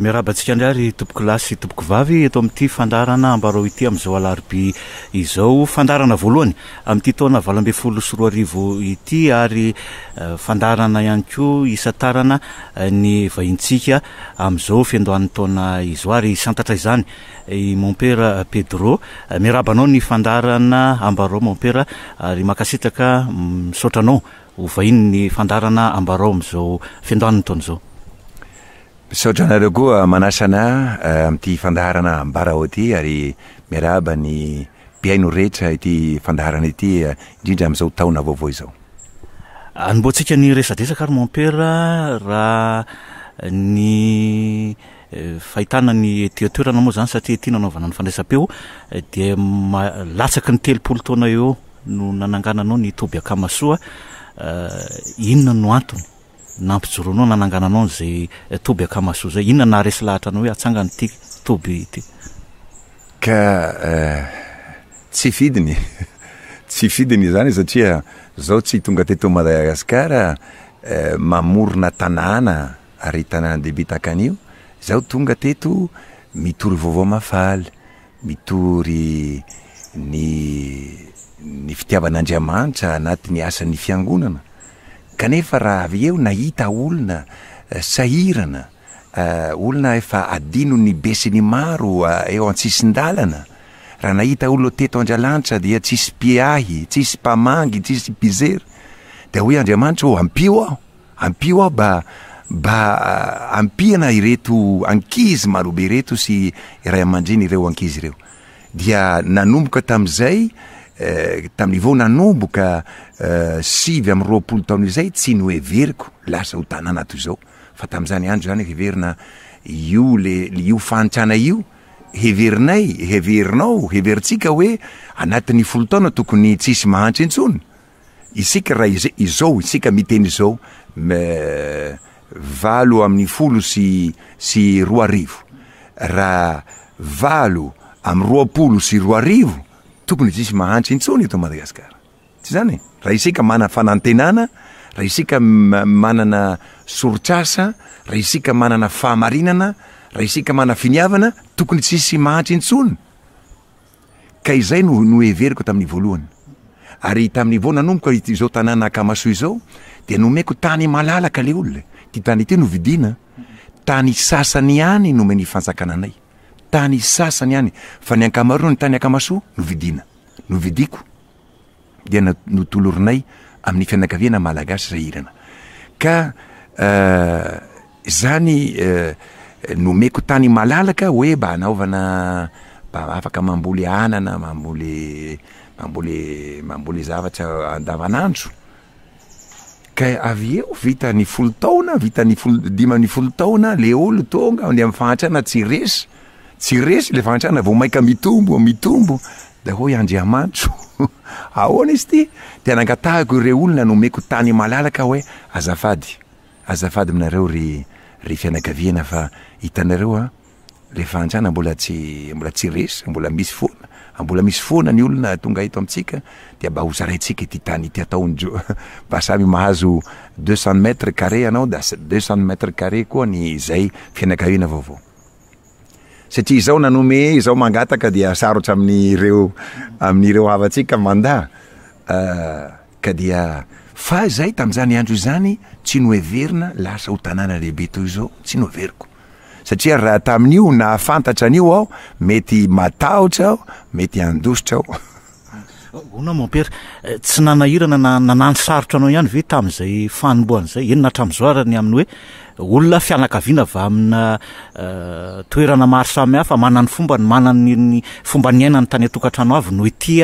Miarahaba antsika indray ry tompokolahy sy tompokovavy eto amin'ity fandaharana ambarao ity amin'izao alarobia izao. Fandaharana voalohany amin'ity taona valo ambin'ny folo sy roa arivo ity ary fandaharana ihany koa hisantarana ny vahintsika amin'izao fiandohan'ny taona izao ary hisantatra izany i Mompera Pedro. Miarahaba anao ny fandaharana ambarao Mompera ary mankasitraka misaotra anao ho vahinin'ny fandaharana ambarao amin'izao fiandohan'ny taona izao. Misaotra anareo koa manasa anah amin'ity fandaharana ambara ao ity ary miarahaba ny mpihaino rehetra ity fandaharana ity indrindra amin'izao taona vaovao izao. Anombohantsika ny resadresaka ary Mompera raha ny fahitana ny ety an-toerana moa izany satria ity no anaovana ny fandraisam-peo dia latsaky ny telopolo taona eo no nanangananao ny toby Akamasoa inona no antony? Nampijoro anao, nanangana anao an'izay toby akamasoa izay. Inona no naharesy lahatra anao hoe hatsangana ity toby ity? Ka tsy fidiny, tsy fidiny izany satria izaho tsy tonga teto Madagasikara mamorona tanàna ary tanàna dehibe tahaka an'io, izaho tonga teto mitory vaovao mahafaly, Mitory ny ny fitiavan'Andriamanitra anatin'ny asan'ny Fiangonana, kanefa raha avy eo nahita olona sahirana, olona efa adinon'ny be sy ny maro eo an-tsisin-dalana, raha nahita olona teto Andralanitra dia tsisy mpiahy, tsisy mpamangy, tsisy mpijery, dia hoy Andriamanitra ô ampio aho! Ampio aho ba ba ampiana ireto ankizy marobe ireto sy ray amandreny ireo ankizy ireo dia nanomboka tamizay taminy vao nanomboka sivy amby roapolo taona izay tsy noheveriko lasa ho tanàna toy izao fa tamizany andro zany heverina io le io fahantrana io heverinay heverinao heverintsika hoe anatiny folo taona tokony tsisy mahantra intsony Isika raha izao isika miteny izao me valo amin'ny folo sy sy roa arivo, raha valo amin'ny roapolo sy roa arivo tokony tsisy mahantra intsony eto Madagasikara. Tsy izany e? Raha isika manana fanantenana, raha isika manana soritr'asa, raha isika manana fahamarinana, raha isika manana finiavana, tokony tsisy mahantra intsony. Ka izay no noheveriko tamin'ny voalohany. Ary tamin'ny vao nanomboka izao tanàna Akamasoa izao dia nomeko tany malalaka ilay olona, ity tany ity novidiana, tany sasany ihany nomen'ny fanjakana anay, tany sasany ihany, fa ny ankamaroan'ny tany Akamasoa novidiana, novidiako. dia notolorinay amin'ny fianakaviana malagasy izay hirana. Ka izany nomeko tany malalaka hoe mba hanaovana mba afaka mamboly anana, mamboly mamboly mamboly zavatra andavanandro. Ka avy eo vita ny folo taona, vita ny folo, dimy amby folo taona, le olo tonga any amin'ny fahantrana tsy resy, tsy resy le fahantrana vao maika mitombo, mitombo, de hoy Andriamanitro, ahoana izy ty? de nangatahiko ireo olona nomeko tany malalaka hoe azafady, azafady aminareo ry ry fianakaviana fa hitanareo an, le fahantrana mbola tsy mbola tsy resy, mbola misy foana, mbola misy foana ny olona tonga eto amintsika dia mba ho zaraintsika ity tany ity atao ny jo, mba samy mahazo deux cent mètres carré ianao dia deux cent mètres carré koa ny izay fianakaviana vaovao. Satria izao nanome, izao mangataka dia sarotra amin'ireo amin'ireo havantsika manda ka dia fa izay tamin'izany andro izany tsy noheverina lasa ho tanàna lehibe toy izao, tsy noheveriko. satria raha tamin'io nahafantatra an'io aho mety matahotra aho mety handositra aho. Hono mon père, tsy nanahirana na nanano sarotra anao ihany ve tamin'izay fanombohana izay, eny na hatramin'izao ary ny amin'ny hoe olona fianakaviana avy amina toerana maro samihafa, manana ny fombany, manana ny fomba niainany tany an-tokantrano avy no ety,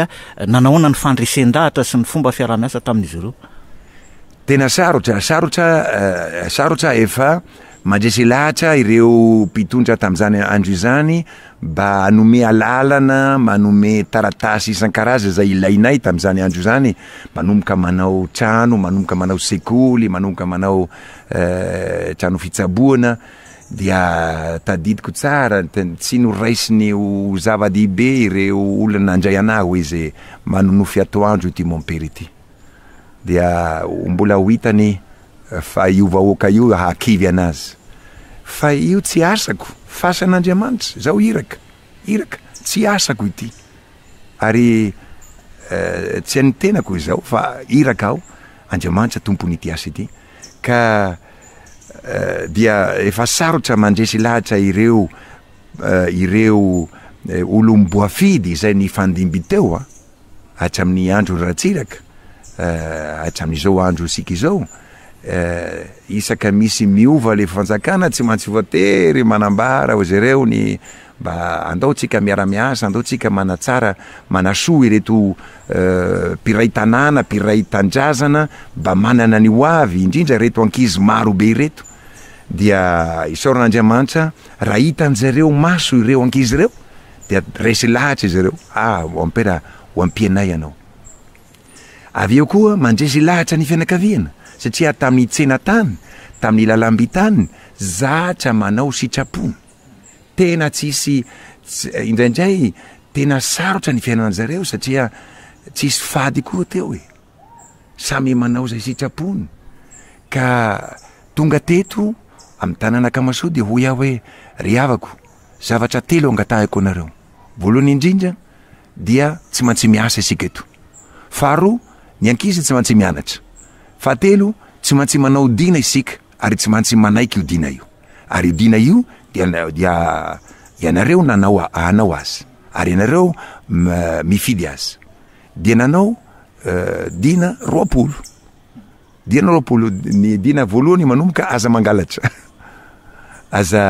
nanahoana ny fandresen-dahatra sy ny fomba fiaraha-miasa tamin'izy ireo? Tena sarotra, sarotra, sarotra efa Mandresy lahatra ireo mpitondra tamin'izany andro izany mba hanome alalana, manome taratasy isan-karazany izay ilainay tamin'izany andro izany, manomboka manao trano, manomboka manao sekoly, manomboka manao trano fitsaboana, dia tadidiko tsara, tsy noraisiny ho zava-dehibe ireo olona nandray anah hoe izay manonofy atoandro ity mompera ity. Dia mbola ho hitany Fa io vahoaka io hakivy anazy fa io tsy asako fasan Andriamanitra zao iraka iraka tsy asako ity ary tsy an'ny tenako izao fa iraka aho Andriamanitra tompon'ity asa ity ka dia efa sarotra mandresy lahatra ireo ireo olom-boafidy izay nifandimby teo a. hatramin'ny andron'i Ratsiraka hatramin'izao andro isika izao, isaka misy miova le fanjakana tsy maintsy voatery manambara ozy ireo ny mba andao tsika miara-miasa, andao tsika manatsara, manasoa ireto mpiray tanàna, mpiray tandrazana mba manana ny ho avy, indrindra ireto ankizy maro be ireto, dia isaoran'Andriamanitra raha hitanjareo maso ireo ankizy ireo dia resy lahatra izy ireo, ah, ho ampera, ho ampianay ianao. Avy eo koa mandresy lahatra ny fianakaviana, satria tamin'ny tsena tany, tamin'ny lalamby tany, zatra manao sitrapony. Tena tsisy, indraindray tena sarotra ny fiainana zareo satria tsisy fady koa teo e. Samy manao izay sitrapony. Ka tonga teto amin'ny tanàna Kamasoa dia hoy aho hoe, ry havako, Zavatra telo angatahiko anareo. Voalohany indrindra dia tsy mantsy miasa isika eto. Faharoa, ny ankizy tsy mantsy mianatra. Fahatelo, tsy mantsy manao dina isika ary tsy mantsy manaiky io dina io. Ary io dina io dia dia ianareo nanao hanao azy. Ary ianareo mifidy azy. Dia nanao dina roapolo. Dia nareo polo ny dina voalohany manomboka aza mangalatra aza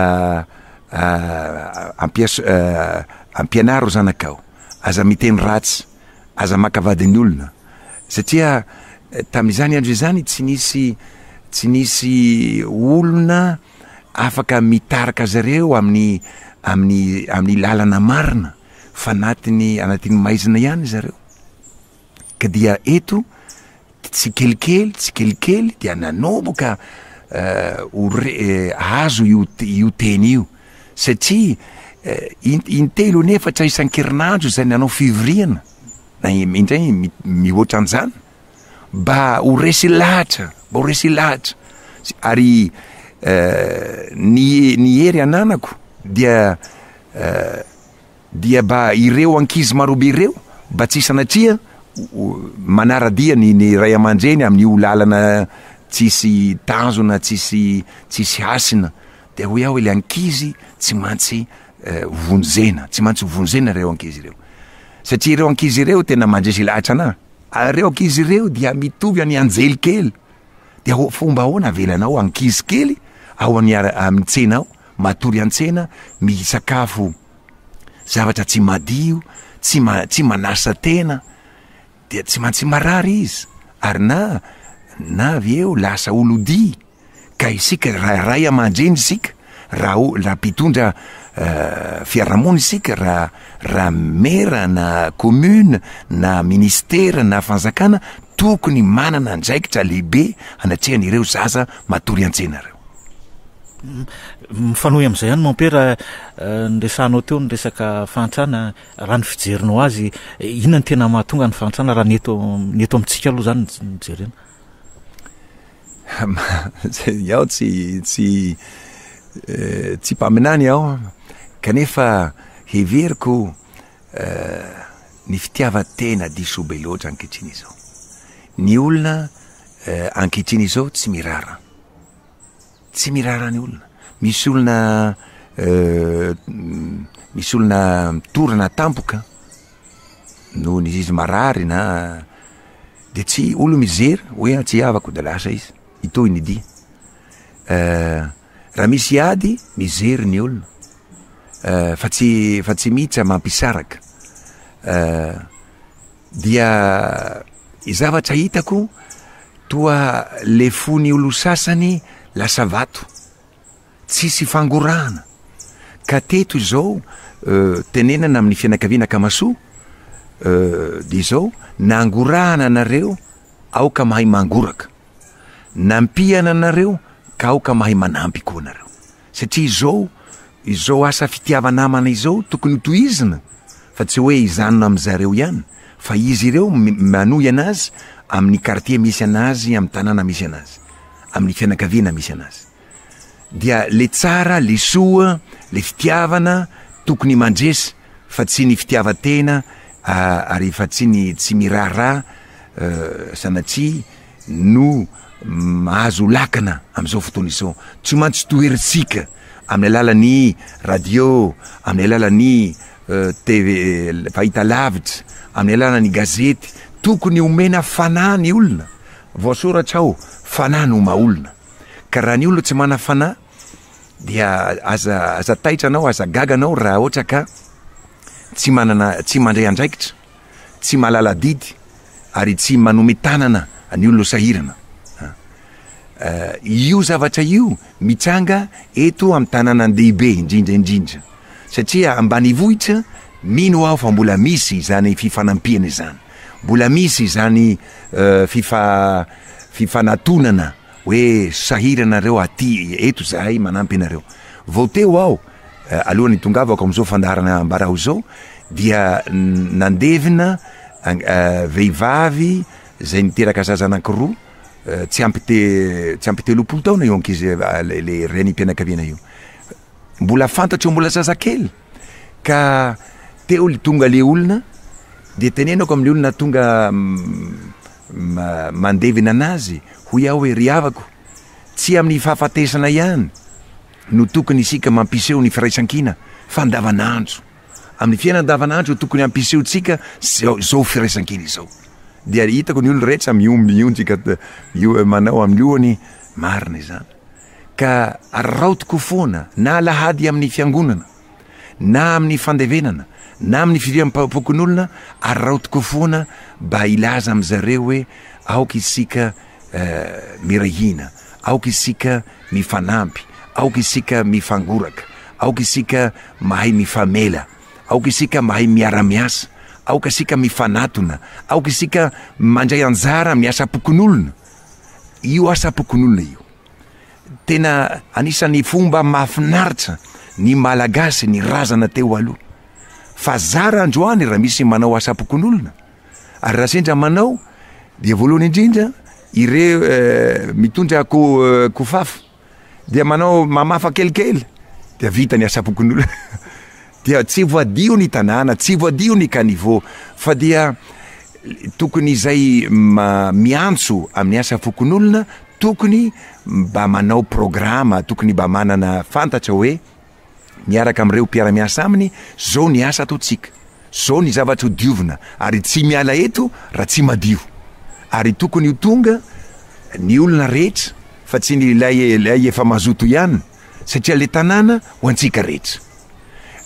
ampianaro zanakao aza miteny ratsy aza maka vadin'ny olona satria tamin'izany andro izany tsy nisy tsy nisy olona afaka mitarika zareo amin'ny amin'ny amin'ny lalana marina fa anatiny anatin'ny maizina ihany zareo ka dia eto tsikelikely tsikelikely dia nanomboka ho azo io teny io satria intelo anefatra isan-kerinandro izay nanao fivoriana na indray mihoatra an'izany mba ho resy lahatra mba ho resy lahatra ary ny ny hery ananako dia Dia ba ireo ankizy marobe ireo ba tsy sanatria manaradia ny ny ray aman-dreny amin'io lalana tsisy tanjona tsisy tsisy hasina dia hoy aho ilay ankizy tsy mantsy vonjena tsy mantsy vonjena ireo ankizy ireo satria ireo ankizy ireo tena mandresy lahatra anah ary ireo ankizy ireo dia mitovy any anjely kely dia ho fomba ahoana avelanao ankizy kely ao any amin'ny tsena ao matory an-tsena misakafo zavatra tsy madio, tsy ma- tsy manasa tena, dia tsy maintsy marary izy, ary na na avy eo lasa olodia, ka isika raha ray aman-dreny isika, raha o- raha mpitondra fiarahamonina isika, raha raha mera na commune na ministera na fanjakana, tokony manana andraikitra lehibe anatrehan'ireo zaza. Matory an-tse nareo. Mifanohy amin'izay ihany Mompera ny resahanao teo ny resaka fahantrana, raha ny fijerinao azy inona no tena mahatonga ny fahantrana raha ny eto ny eto amintsika aloha izany no jerena? Iaho tsy tsy tsy mpaminany aho kanefa heveriko ny fitiavan-tena diso be loatra ankehitriny izao. Ny olona Eh, ankehitriny izao tsy mirara. Tsy mirara ny olona. Misy olona eh, misy olona mitorana tampoka noho ny izy marary na dia tsy olo mijery hoe tsy havako dia lasa izy. Itoy ny dia. Eh, raha misy ady mijery ny olona. Eh, fa tsy fa tsy mihitsy mampisaraka. Eh, Dia i zavatra hitako toa le fon'i olosasany lasa vato. Tsisy fangorahana. Ka teto izao tenenana amin'ny fianakaviana Akamasoa dia izao nangorahana anareo aoka mahay mangoraka. Nampiana anareo ka aoka mahay manampy koa nareo. Satria izao, izao asa fitiava-namana izao tokony hotohizina fa tsy hoe hijanona amin-dry zareo ihany fa izy ireo manohy anazy amin'ny kartie misy anazy, amin'ny tanàna misy anazy, amin'ny fianakaviana misy anazy. Dia le tsara, le soa, le fitiavana tokony mandresy fa tsy ny fitiavan-tena ary efa tsy ny tsy miraharaha sanatria no mahazo lakana amin'izao fotoana izao, tsy maintsy toherintsika amin'ny alalan'ny radio, amin'ny alalan'ny TV fahitalavitra, amin'ny alalan'ny gazety, tokony omena fanahy ny olona, voasoratra ao, fanahy no maha olona, ka raha ny olona tsy manana fanahy dia aza aza taitra anao, aza gaga anao raha ohatra ka tsy manana, tsy mandray andraikitra. tsy mahalala adidy ary tsy manome tanana ny olona sahirana. Io zavatra io mitranga eto amin'ny tanànan-dehibe indrindra indrindra satria ambanivohitra mino aho fa mbola misy izany fifanampiana izany, mbola misy izany fifanatonana Hoe sahira anareo aty eto izahay manampy anareo. Vao teo aho, alohan'ny hitongavako amin'izao fandaharana ambarao izao, dia nandevina vehivavy izay niteraka zaza anankiroa, tsy ampy tsy ampy telopolo taona io ankizy ilay renim-pianakaviana io. Mbola fantatro mbola zazakely. ka teo le tonga le olona de tenenako amle olona tonga mandevina anazy hoy aho hoe ry havako tsy amin'ny fahafatesana ihany no tokony isika mampiseho ny firaisankina fa andavanandro amin'ny fiainana andavanandro tokony hampisehotsika zao firaisankina izao dia hitako ny olona rehetra mionjika io manao amin'ny lohany marina izany ka araotiko foana na alahady amin'ny fiangonana na amin'ny fandevenana na amin'ny firiam-pokonolona araotiko foana ba hilaza amin-dry zareo hoe aoka isika miray hina, aoka isika mifanampy, aoka isika mifangoraka, aoka isika mahay mifamela, aoka isika mahay miara-miasa, aoka isika mifanatona, aoka isika mandray anjara amin'ny asam-pokonolona, io asam-pokonolona io. Tena anisan'ny fomba mahafinaritra ny Malagasy ny razana teo aloha. Fa zara androany raha misy manao asam-pokonolona. Ary raha sendra manao dia voalohany indrindra ireo eh, mitondra ko, eh, kofafo dia manao mamafa kelikely dia vita ny asam-pokonolona. Dia tsy voadio ny tanàna, tsy voadio ny caniveau, fa dia tokony izay miantso amin'ny asa fokonolona tokony mba manao programa, tokony mba manana fantatra hoe miaraka amin'ireo mpiara-miasa aminy, zao ny asa ataontsika, zao ny zavatra ho diovina, ary tsy miala eto raha tsy madio. Ary tokony ho tonga ny olona rehetra fa tsy ny ilay efa mazoto ihany. satria le tanàna ho antsika rehetra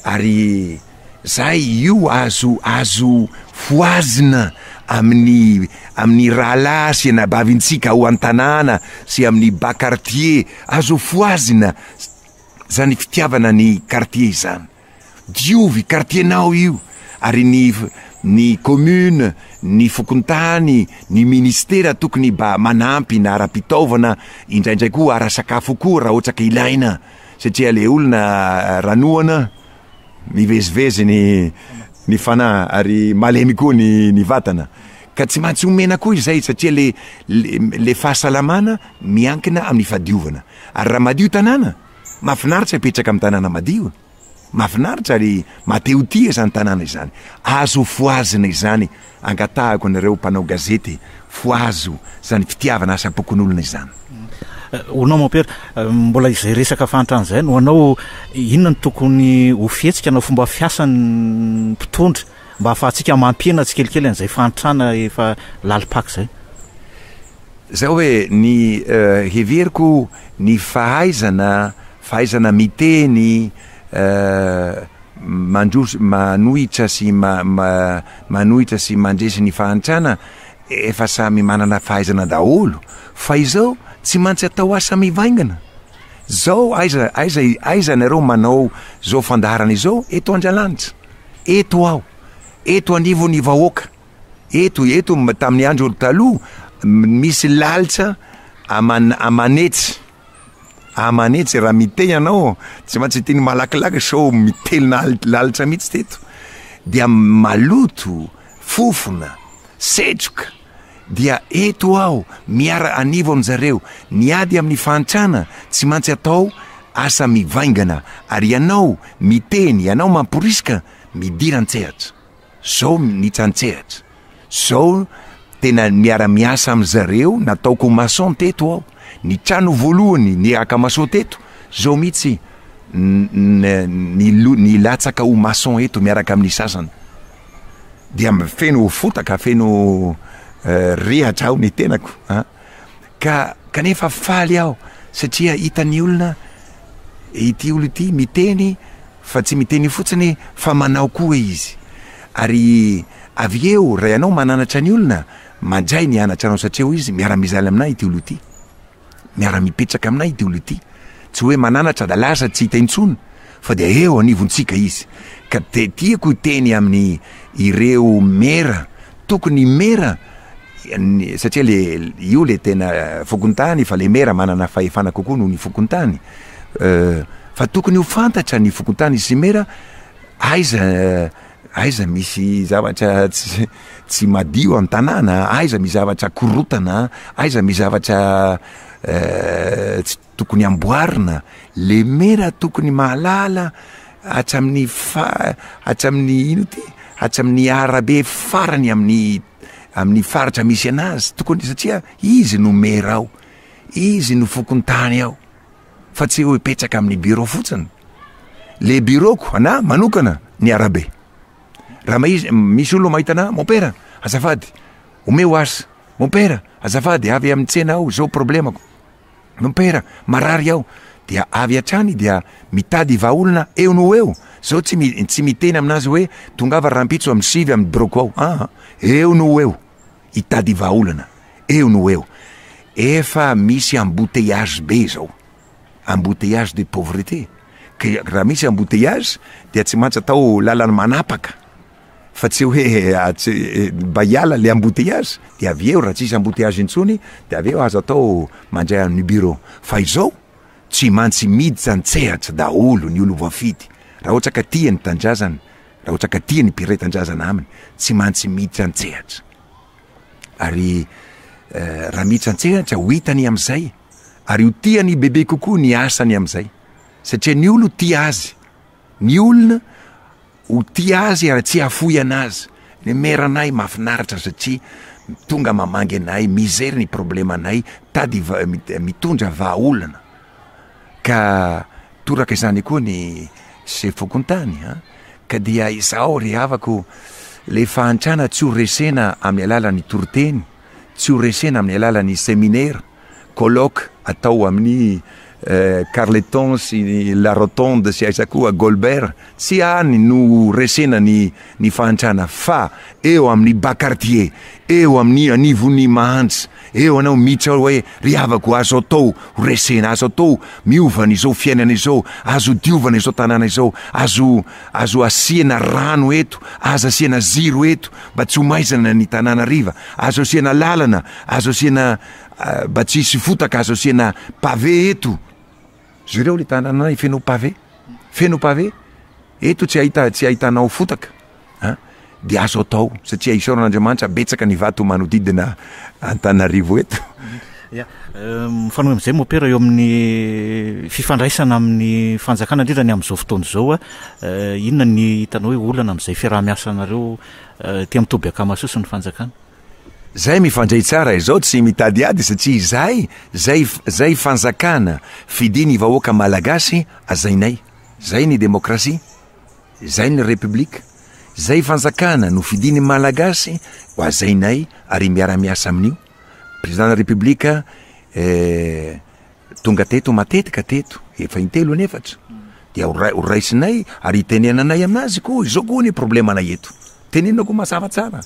ary zay io azo azo fohazina amin'ny amin'ny rahalahy sy anabavintsika ao an-tanàna sy amin'ny bas quartier azo fohazina zany fitiavana ny quartier izany. Diovy kartienao io ary ny ny commune, ny fokontany, ny ministera tokony mba manampy na ara-pitaovana indraindray koa ara-sakafo koa raha ohatra ka ilaina satria le olona ranoana mivezivezy ny ny fanahy ary malemy koa ny ny vatana ka tsy maintsy omena koa izay satria le le fahasalamana miankina amin'ny fahadiovana ary raha madio tanàna Mafinaritra apetraka am tanàna madio, mafinaritra ary matehotia izany tanàna izany, azo fohazina izany, angatahako anareo mpanao gazety fohazo izany fitiavana asa pokonolona izany. Ho anao Mompera, mbola izay resaka fahantrana izay, ho anao inona no tokony ho fihetsika na fomba fiasan ny mpitondra mba hahafahantsika mampihena tsikelikely an'izay fahantrana efa lalim-paka izay. Izao hoe, ny heveriko ny fahaizana fahaizana miteny mandroso manohitra sy manohitra sy mandresy ny fahantrana efa samy manana fahaizana daholo fa izao tsy mantsy atao asa mivaingana zao aiza aiza aiza nareo manao zao fandaharana izao eto Andralanitra. Eto aho, eto anivon'ny vahoaka, eto, eto tamin'ny andro taloha, misy lalitra aman, aman'etsy, aman'etsy, raha miteny ianao, tsy maintsy teny malakilaky sao mitelina lalitra mihitsy teto, dia maloto, fofona, setroka, dia eto aho miara anivo aminjareo miady amin'ny fahantrana tsy mantsy atao asa mivaingana ary ianao miteny ianao mamporiska midira antsehatra zao minitsa antsehatra zao tena miara miasa aminzareo nataoko mason teto aho ny trano voalohany niraka mason teto zao mitsy ny nilatsaka ho mason eto miaraka amin'ny sasany dia feno fotaka, feno rehatra ao ny tenako a, ka kanefa faly aho satria hitan'ny olona ity olona ity miteny fa tsy miteny io fotsiny fa manao koa izy, ary avy eo raha ianao mananatra ny olona mandray ny anatrarao satria hoy izy miara-mizaly amin'ahy ity olona ity. miara-mipetraka aminay ity olona ity, tsy hoe mananatra da lasa tsy hita intsony fa dia eo anivontsika izy, ka dia tiako hiteny amin'ny ireo mera, tokony ny mera satria le io le tena fokontany fa le mera manana fahefana kokoa noho ny fokontany, fa tokony ho fantatra ny fokontany sy mera aiza Aiza misy zavatra tsy madio an tanàna, aiza misy zavatra korotana, aiza misy zavatra tsy tokony amboarina, le mera tokony mahalala hatramin'ny hatramin'ny ino ity hatramin'ny arabe farany amin'ny amin'ny faritra misy anazy tokony satria izy no mera ao, izy no fokontany ao. fa tsy hoe hipetraka amin'ny bureau fotsiny. Le bureau-ko anah manokana ny arabe. Raha mahiz- misy olona mahita anah, mon père, azafady, omeo asa. Mon père, azafady, avy amin'ny tsena aho, zao problemako. Mon père, marary aho. Dia avy hatrany dia mitady vahaolona eo no ho eo. Zao tsy, mi- tsy miteny aminazy hoe tongava rahampitso amin'ny sivy amin'ny bureau-ko ao. Aa, eo no ho eo. Hitady vahaolana eo no ho eo. Efa misy embouteillage be izao. Embouteillage de pauvreté. Ka raha misy embouteillage dia tsy maintsy atao lalana manapaka fa tsy hoe mba hiala ilay embouteillage dia avy eo raha tsisy embouteillage intsony dia avy eo aza atao mandray an'ny bureau. Fa izao tsy maintsy miditra an-tsehatra daholo ny olom-boafidy raha ohatra ka tia ny tanindrazany. Rahotsaka tia ny mpiray tanjazana aminy tsy mantsy miditra antsehatra. Ary raha miditra antsehatra ho hitany amizay ary ho tiany bebe kokoa ny asany amizay. Satria ny olo tia azy. Ny olona ho tia azy ary tsy hafoy anazy. Ny mère anay mafinaritra satria tonga mamangy anay, mizery ny problème anay, tady mitondra vahaolana. Ka toraka izany koa ny sefo fokontany an! Ka dia izao ry havako, ilay fahantrana tsy ho resena amin'ny alalan'ny toriteny, tsy ho resena amin'ny alalan'ny seminera, colloque atao amin'ny Carleton sy ny La Rotonde sy aiza koa, Golbert, tsy any no ho resena ny fahantrana fa eo amin'ny bas quartier, eo amin'ny anivon'ny Mahantsa, Eo anao mitsy aho hoe ry havako azo atao ho resena azo atao miova an'izao fiainana izao azo diovana izao tanàna izao azo azo asiana rano eto aza asiana ziro eto mba tsy ho maizana ny tanànariva azo asiana lalana azo asiana mba tsy hisy fotaka azo asiana pavé eto Jereo le tanana anay feno pavé, feno pavé, eto tsy ahita tsy ahitanao fotaka a de azo atao satria isaoran'Andriamanitra betsaka ny vato manodidina Antananarivo eto. Ya, euh, mifanohy amin'izay mopera eo amin'ny fifandraisana amin'ny fanjakana indrindra ny amin'izao fotoana izao a euh, inona ny hitanao hoe olana amin'izay fiaraha-miasanareo euh, aty amin'ny toby Akamasoa sy ny fanjakana? Zay mifandray tsara izao tsy mitady ady satria izay zay zay fanjakana fidin ny vahoaka malagasy azainay zay ny demokrasia zay ny repiblika zay fanjakana no fidin ny malagasy ho azainay ary miara miasa aminio prezidan ny repiblika eh, Tonga teto matetika teto, efa intelo na efatra, dia ho raisinay ary hitenenanay aminazy koa izao koa ny problemanay eto. Tenenina koa mazava tsara.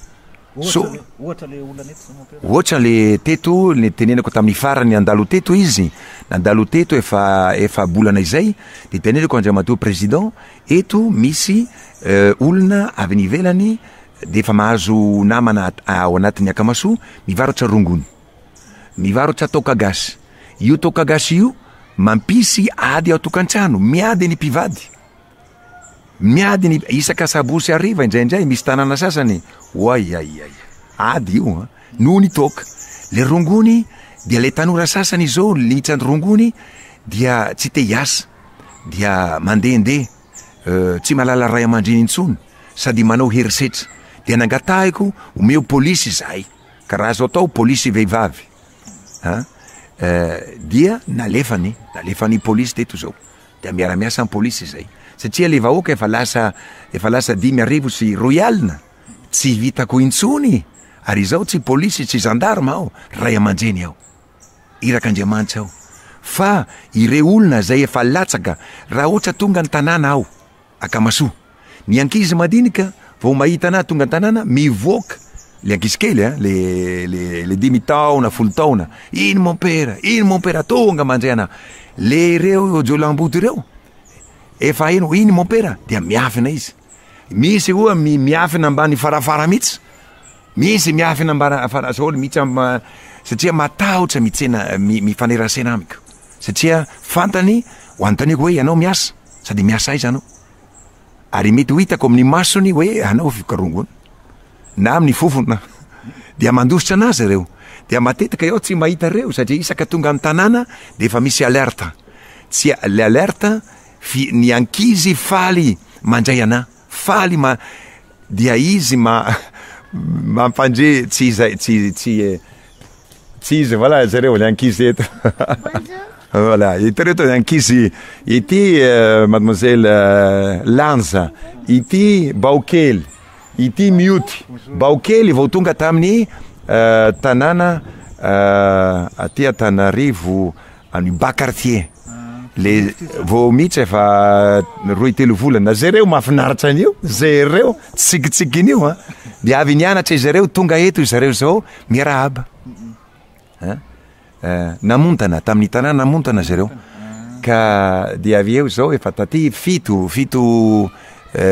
Ohatra le olana eto zao mon père? Ohatra le teto le tenenako tamin'ny farany nandalo teto izy, nandalo teto efa efa-bolana izay, dia tenenako Andriamatoa Président, eto misy olona avy any ivelany dia efa mahazo namana ao anatin'ny Akamasoa mivarotra rongony. Mivarotra toaka gasy. Io toaka gasy io mampisy ady ao tokantrano, miady ny mpivady. Miady ny isaka sabosy hariva indraindray misy tanàna sasany, oaiaiai. Ady io an, noho ny toaka. Le rongony dia le tanora sasany izao litrany rongony dia tsy te hiasa dia mandehandeha tsy mahalala ray aman-dreny intsony sady manao herisetra dia nangatahiko omeo polisy izahay. Ka raha azo atao polisy vehivavy an eh, dia nalefany, nalefany polisy teto izao. Dia miara-miasa ny polisy izay. Satria ilay vahoaka efa lasa, efa lasa dimy arivo sy roy alina, tsy vitako intsony. Ary izaho tsy polisy, tsy zandarma aho, ray aman-dreny aho. Iraka Andriamanitra aho. Fa ireo olona izay efa latsaka, raha ohatra tonga ny tanàna aho, Akamasoa. Ny ankizy madinika vao mahita anah tonga an-tanàna mivoaka, le ankizy kely a, le le le dimy taona, folo taona, iny mompera, iny mompera, tonga mandre anah. Le ireo jiolahimboto ireo efa hainy hoe iny mompera dia miafina izy. Misy oa mi- miafina ambany farafara mihitsy, misy miafina ambara fara daholo mihitsy am- ma- satria matahotra mitsena mi- mifanerasena amiko satria fantany ho anontaniako hoe ianao miasa? Sady miasa aiza anao? Ary mety ho hitako amin'ny masony hoe anao vikarongony, na amin'ny fofona. Dia mandositra anazy ireo. Dia matetika iaho tsy mahita ireo satria isaka tonga ny tanàna dia efa misy alerte. Tsy le alerte fy ny ankizy faly mandray anahy. Faly ma dia izy ma mampandre tsy izay tsy tsy tsy izy voilà zareo le ankizy eto voilà hitareo to ankizy ity euh, mademoiselle euh, Lanza ity Baokely ity mioty Baokely vao tonga tamin'ny euh, tanàna aty Antananarivo An'i Ba Cartier. Le vao mihitsy efa roy telo volana. Jereo mahafinaritra an'io. Jereo tsikitsikin'io a. Dia avy nianatra izy ireo, tonga eto izy ireo izao miarahaba. Namontana tamin'ny tanàna namontana izy ireo. Ka dia avy eo izao efa taty fito, fito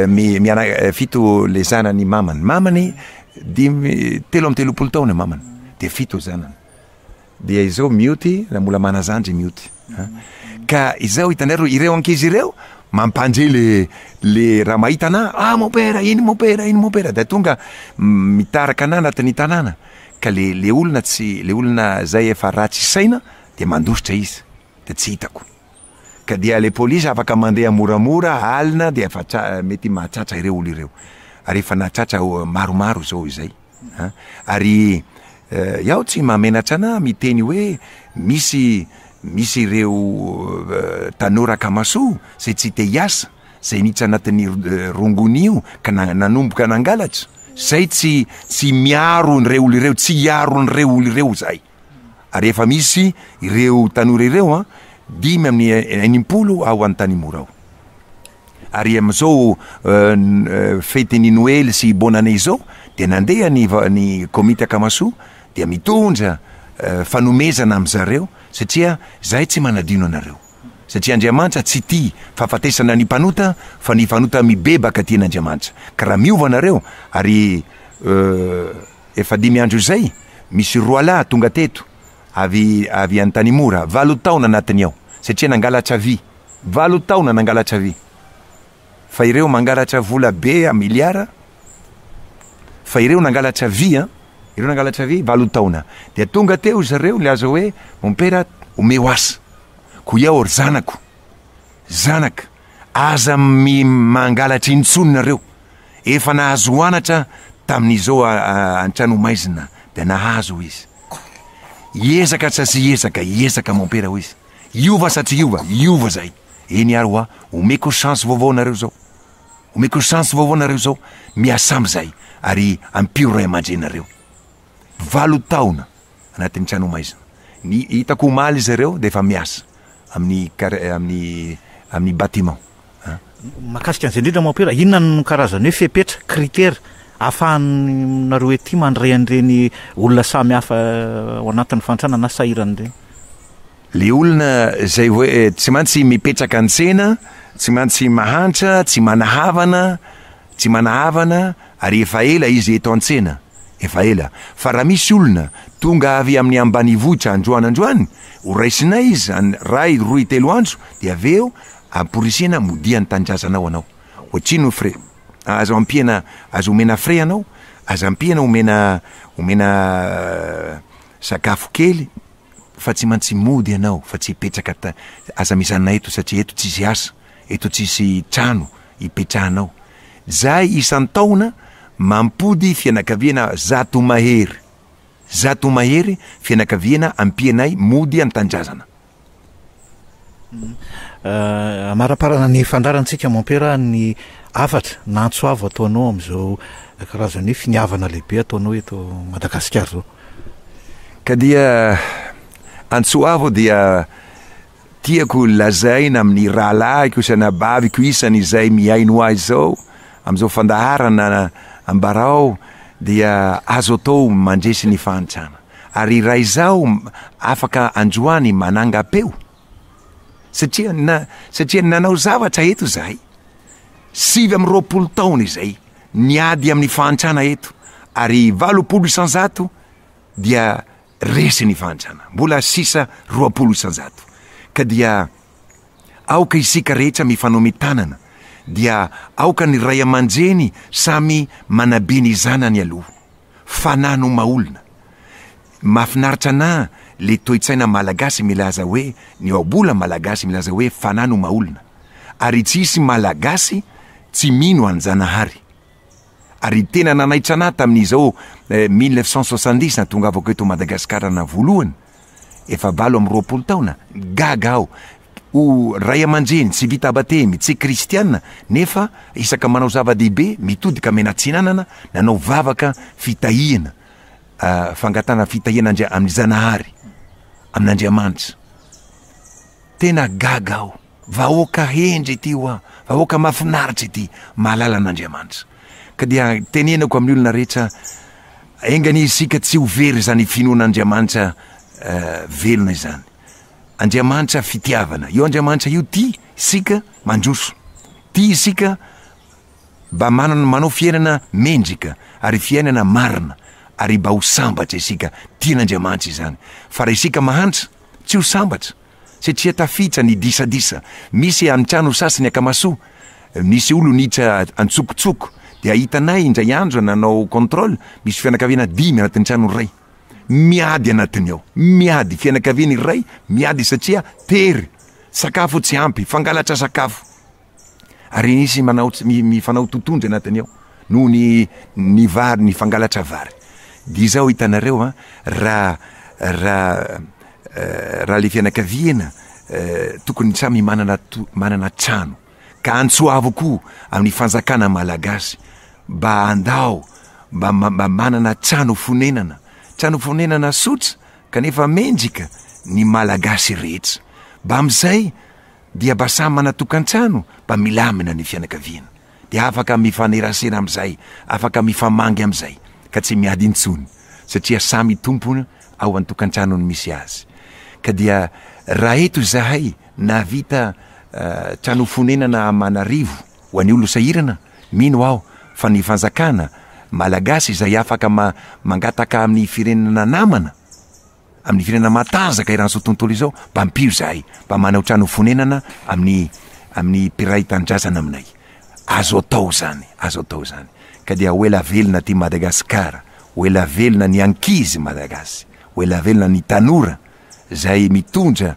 miana fito le zanany mamany. Mamany dimy telo amby telopolo taona mamany. Dia fito zanany. Dia izao mioty na mbola manazandry mioty an! Ka izao hitanareo ireo ankizy ireo mampandre le le raha mahita anà ah mon père iny mon père iny mon père dia tonga mitaraka anà anatin'ny tanàna ka le le olona tsy le olona zay efa ratsy saina dia mandositra izy dia tsy hitako. ka dia le police afaka mandeha moramora alina dia efa mety mahatratra ireo olo ireo ary efa nahatratra maromaro zao izay a! ary iaho tsy mahamenatra anah miteny hoe misy misy ireo tanora akamasoa zay tsy te hiasa zay niditra anatin'ny rongony io ka nanomboka nangalatra zay tsy tsy miaro ireo olo ireo tsy hiaro an'ireo olo ireo zahay. ary efa misy ireo tanora ireo an, dimy amin'ny enimpolo ao Antanimora ao. Ary amin'izao fetin'ny Noely sy Bonne Année izao dia nandeha ny ny komity Akamasoa dia mitondra fanomezana amin-dry zareo satria izahay tsy manadino anareo satria Andriamanitra tsy tia fahafatesana ny mpanota fa ny fanota mibebaka tian'Andriamanitra ka raha miova anareo ary Efa dimy andro izay, misy roalahy tonga teto, avy avy Antanimora, valo taona anatiny ao, satria nangalatra vy, valo taona nangalatra vy, fa ireo mangalatra vola be a miliara, fa ireo nangalatra vy an, ireo nangalatra vy, valo taona, dia tonga teo ry zareo nilaza hoe, mompera, omeo asa, koa iao ry zanako, zanaka, Aza mi mangalatra intsony nareo, efa nahazo anatra tamin'izao an-trano maizina dia nahazo hoy izy. Hiezaka sa tsy hiezaka, hiezaka mompera hoy izy. Hiova sa tsy hiova, hiova zay. Eny ary hoa, omeko chance vaovao nareo zao. Omeko chance vaovao nareo zao, miasam zay ary ampio ray aman-dreninareo. Valo taona. anatin'ny trano maizina. Ny hitako omaly izy ireo dia efa miasa amin'ny amin'ny amin'ny bâtiment an. Mahakasika an'izay indrindra Mon Père, inona no karazan'ny hoe fepetra, critère, ahafahanareo ety mandray an'ireny olona samy hafa ao anatin'ny fahantrana na sahirana ireny? Le olona izay hoe tsy mantsy mipetraka an-tsena, tsy mantsy mahantra, tsy mana havana, Tsy manahavana ary efa ela izy eto an-tsena, efa ela, fa raha misy olona tonga avy amin'ny ambanivohitra androany androany, horaisinay izy any ray roy telo andro dia avy eo amporisihina modia ny tanindrazanao anao. Ohatrin ny frais. Aza ampiana aza omena frais anao, aza ampiana omena omena sakafo kely fa tsy mantsy mody ianao fa tsy hipetraka aza mijanona eto satria eto tsisy asa. eto tsisy trano ipetrahanao. Zahay isan-taona mampody fianakaviana zato mahery. Zato mahery fianakaviana ampianay mody an-tanindrazana. Amaraparana ny fandrarantsika Mompera ny hafatra na antso avo ataonao amin'izao karazana hoe finiavana lehibe ataonao eto Madagasikara izao. Ka dia antso avo dia Tiako lazaina amin'ny rahalahiko sy anabaviko isany izay mihaino ahy izao, amin'izao fandaharana ambarao dia azo atao mandresy ny fahantrana, ary raha izaho afaka androany manangam-peo, satria na, satria nanao zavatra eto izahay, sivy amby roapolo taona izay, niady amin'ny fahantrana eto, ary valopolo isan-jato dia, Resy ny fahantrana, mbola sisa roapolo isan-jato, ka dia aoka isika rehetra mifanome tanana, dia aoka ny ray aman-dreny samy manabe ny zanany aloha. Fanahy no maha-olona. Mahafinaritra anà le toe-tsaina malagasy milaza hoe, ny ohabola malagasy milaza hoe fanahy no maha-olona. Ary tsy hisy malagasy tsy mino an'Janahary. ary tena nanaitra anah tamin'izao eh, mille neuf cent soixante-dix natongavako eto Madagasikara na voalohany, efa valo amby roapolo taona, gaga aho, ho ray aman-dreny tsy vita batemy, tsy kristiana, nefa isaka manao zava-dehibe, mitodika mena atsinanana, nanao vavaka fitahiana, ah, fangatana fitahiana Andria- amin'ny Zanahary, amin'Andriamanitra. Tena gaga aho. Vahoaka hendry ity hoa, vahoaka mafinaritra ity, mahalala an'Andriamanitra. Ka dia tenenako amin'ny olona rehetra, enga anie isika tsy ho very izany finoana Andriamanitra velona izany. Andriamanitra fitiavana, io Andriamanitra io tia isika mandroso, tia isika mba manana manao fiainana mendrika ary fiainana marina ary mba ho sambatra isika, tian'Andriamanitra izany. Fa raha isika mahantra, tsy ho sambatra. satria tafiditra ny disadisa misy any trano sasany akamasoa misy olon itra antsokotsoko dia hitanay indray andro nanao control misy fianakaviana dimy anatin'ny trano iray miady anatiny ao miady fianakaviana iray miady satria tery sakafo tsy ampy fangalatra sakafo ary nisy manaots- mi- mifanao totohondry anatiny ao noho ny ny vary ny fangalatra vary dia izao hitanareo an raha raha eh, raha le fianakaviana eh, tokony samy manana to- manana trano ka antsoavo koa amin'ny fanjakana malagasy mba andao mba ma- mba manana trano fonenana trano fonenana sotra kanefa mendrika ny malagasy rehetra mba amin'izay dia mba samy manatokantrano mba milamina ny fianakaviana dia afaka mifanerasera amizay afaka mifamangy amizay ka tsy miady intsony satria samy tompona ao antokantranony misy azy ka dia raha eto izahay nahavita trano fonenana amanarivo ho any olo sahirana mino aho fa ny fanjakana Malagasy izay afaka mangataka aminy firenana namana amin'ny firenena matanjaka eran'izao tontolo izao, mba ampio izahay mba manao trano fonenana amin'ny amin'ny mpiray tanindrazana aminay. Azo atao izany, azo atao izany. Ka dia ho ela velona ty Madagasikara, ho ela velona ny ankizy Malagasy, ho ela velona ny tanora izay mitondra